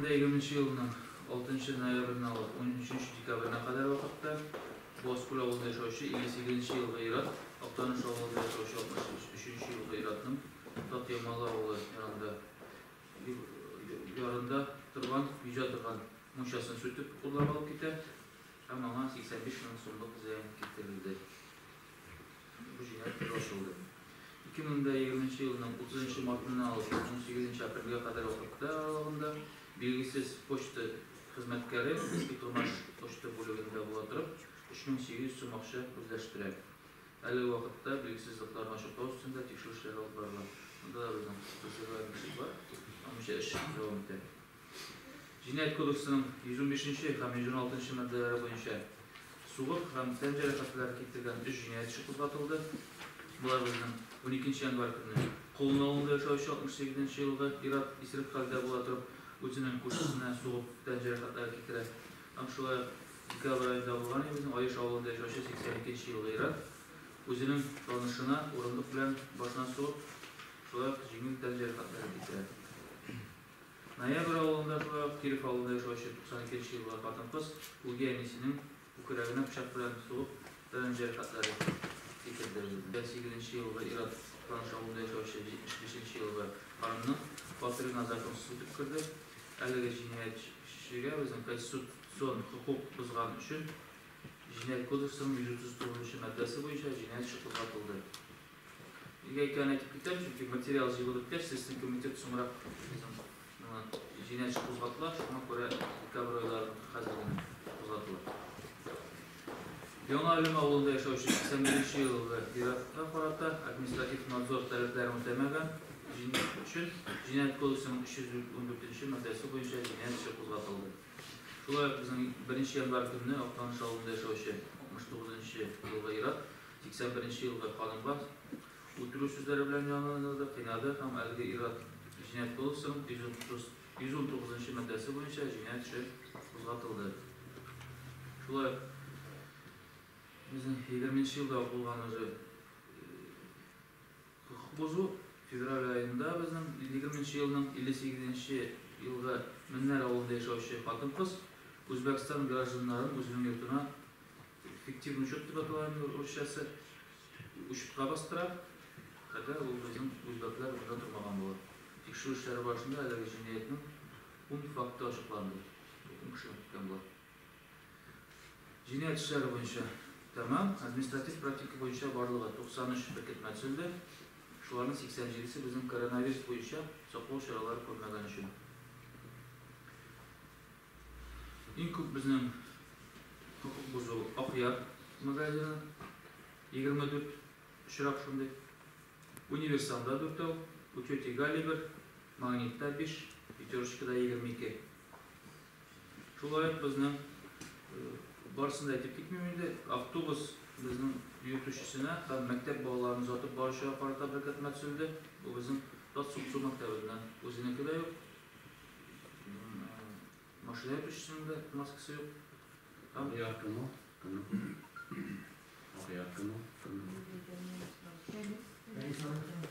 2020 елның 6 ноябреннән алып 13 декабренә кадәр вакытта Буазкүл авылында яшәүче 58 нче елгы ир-ат Актаныш авылында яшәүче 63 нче елгы ир-атның Татъямалы авылы янында ярында торган, йөзә торган мунчасын сүтеп, урлап алып китә һәм аңа 85 мең сумлык зыян китерелде. Бу җиһаз тиз ачылды. Ике мең дә егерменче елның утызынчы мартыннан алып унсигезенче апрельгә кадәр вакыты аралыгында билгесез почта хезмәткәре Иске Тырмаш почта бүлегендә була торып, өч мең сигез йөз сум акча үзләштерә. Әлеге вакытта билгесезлекләрне ачыклау өстендә тикшерү эшләре алып барыла. Монда да безнең хокук бозучылар бар. Аеруча эш дәвам итә. Җинаять кодексының 115 нче һәм 116 нчы маддәләре буенча сугып һәм тән җәрәхәтләре китергән өч җинаять эше кузгатылды. Болар безнең 12 нче январь көнне Колын авылында яшәүче 68 нче елгы ир-ат исерек хәлдә була торып үзенең күршесенә сугып тән җәрәхәтләре китерә һәм шулай ук декабрь аенда булган илебезнең Аеш авылында яшәүче 82 нче елгы ир-ат үзенең танышына урындык белән башына сугып шулай ук җиңел тән җәрәхәтләре китерә. Ноябрь авылында шулай ук Киров авылында яшәүче 92 нче елгы хатын-кыз үги әнисенең күкрәгенә пычак белән сугып, тәмам җәрәхәтләре китерде. 58 нче елгы ир-ат Актаныш авылында яшәүче 75 нче елгы ханымның фатирына законсыз үтеп керде. Әлеге җинаятьчегә безнең Конститу цион хокук бозган өчен Җинаять кодексының 139 нчы маддәсе буенча җинаять эше кузгатылды. Нигә икәнен әйтеп китәм, чөнки материал җыелып беткәч, Следственный комитет соңрак безнең миңа җинаять эше кузгаттылар, шуңа күрә декабрь айларыныкы хәзер генә кузгатылыр. Яңа Әлем авылында яшәүче 81 нче елгы ир-атка карата административ надзор таләпләрен үтәмәгән өчен Җинаять кодексының 314 нче маддәсе буенча җинаять эше кузгатылды. Шулай ук безнең 1 нче январь көнне Актаныш авылында яшәүче 69 нчы елгы ир-ат 80 беренче елгы канунга үтерү сүзләре белән җанландырды, кыйнады һәм әлеге ир-ат Җинаять кодексының 139 нчы маддәсе буенча җинаять эше кузгатылды. Шулай ук безнең 20 нче елда ук булган уже Хокук бозу февраль аенда безнең егерменче елның илле сигезенче елгы Меннәр авылында яшәүче хатын-кыз Үзбәкстан гражданнарын үзенең йортына, фиктивный учет дип атала инде русчасы, учетка бастыра, әгәр ул безнең үзбәкләр монда тормаган булып. Тикшерү эшләре барышында әлеге җинаятьнең ун факты ачыкланды, ун кешедән киткән болар. Җинаять эшләре буенча тәмам, административ практика буенча барлыгы 93 беркетмә төзелде. Шуларның 87 се безнең коронавирус буенча саклау чаралары күрмәгән өчен. Иң күп безнең хокук бозу Акъяр магазины, 24 очрак шундый, Универсалда дүртәү, у тети Гали бер, Магнитта биш, Пятерочкада 22. Шулай ук безнең, барысын да әйтеп китмим инде, автобус безнең йөртүчесенә һәм мәктәп балаларын озатып баручыга карата беркетмә төзелде. Бу безнең Татсуксу мәктәбеннән. Үзенеке дә юк, машина йөртүчесенең дә маскасы юк. Агыяр кем ул? Кемнең кулы? Агыяр кем ул? Кемнең кулы? Фәнис. Фәнис аның кулы.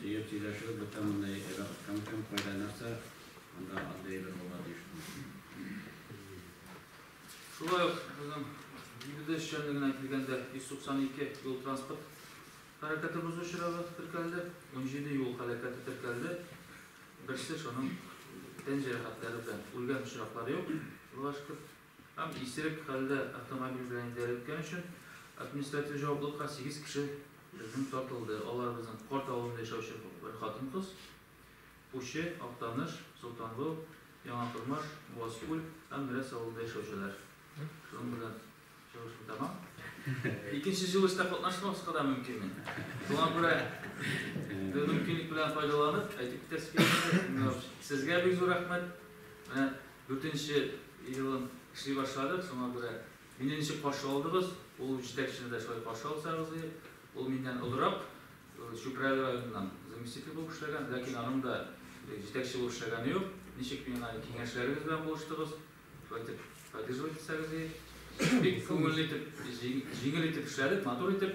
Җыеп сөйләшү бетә монда яки вакыт кем кем кайда нәрсә анда андый әйбер булырга тиеш Шулай ук безнең Бигүдә эшчәнлегенә килгәндә 192 юл транспорт хәрәкәте бозу очрагы теркәлде, 17 юл хәрәкәте теркәлде. Берсе шуның тән җәрәхәтләре белән үлгән очраклар юк, Аллага шөкер. Һәм исерек хәлдә автомобиль белән идарәткән өчен административ җаваплылыкка сигез кеше безнең тартылды. Алар безнең Корт авылында яшәүче бер хатын-кыз, Пучы, Актаныш, Солтанлу, Яңа Тормыш, Буазкүл һәм Мерәс авылында яшәүчеләр. Шуның белән чыгышым тәмам. Икенче җыелышта катнашмаска да мөмкин мин. Шуңа күрә бу мөмкинлек белән файдаланып, әйтеп китәсе килә. Сезгә бик зур рәхмәт. Менә Дүртенче елын эшли башладык, шуңа күрә мине ничек каршы алдыгыз, ул җитәкчене дә шулай каршы алсагыз иде. Ул миннән олырак, Чүпрәле районыннан заместитель булып эшләгән, ләкин аның да җитәкче булып эшләгәне юк. Ничек миңа киңәшләрегез белән булыштыгыз, шулай итеп поддерживать итсәгез иде. Бик күңелле итеп, җиңел итеп эшләдек, матур итеп.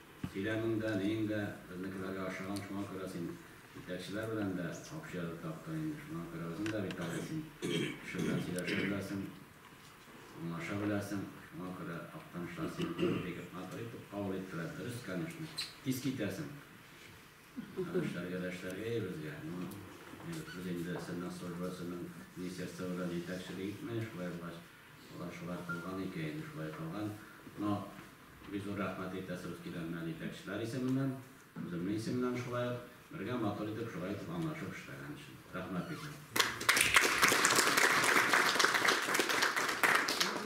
Сөйләмең дә, ниең дә безнекеләргә ошаган, шуңа күрә син җитәкчеләр белән дә общая рта акта инде, шуңа күрә үзең дә бит әле син кеше белән сөйләшә беләсең, аңлаша беләсең, шуңа күрә Актанышлар сине бик бик матур итеп кабул иттеләр, дөрес, конечно, тиз китәсең, ә эшләргә дә эшләргә өебезгә, ну, без инде сине служба, синең министерство белән җитәкчелек итмәе, шулай булгач. Алар шулай кылган икәен, шулай кылган. Но бик зур рәхмәт әйтәсебез килә менә җитәкчеләр исеменнән, үземнең исемнән шулай ук. Бергә матур итеп, шулай итеп аңлашып эшләгән өчен. Рәхмәт бик зур.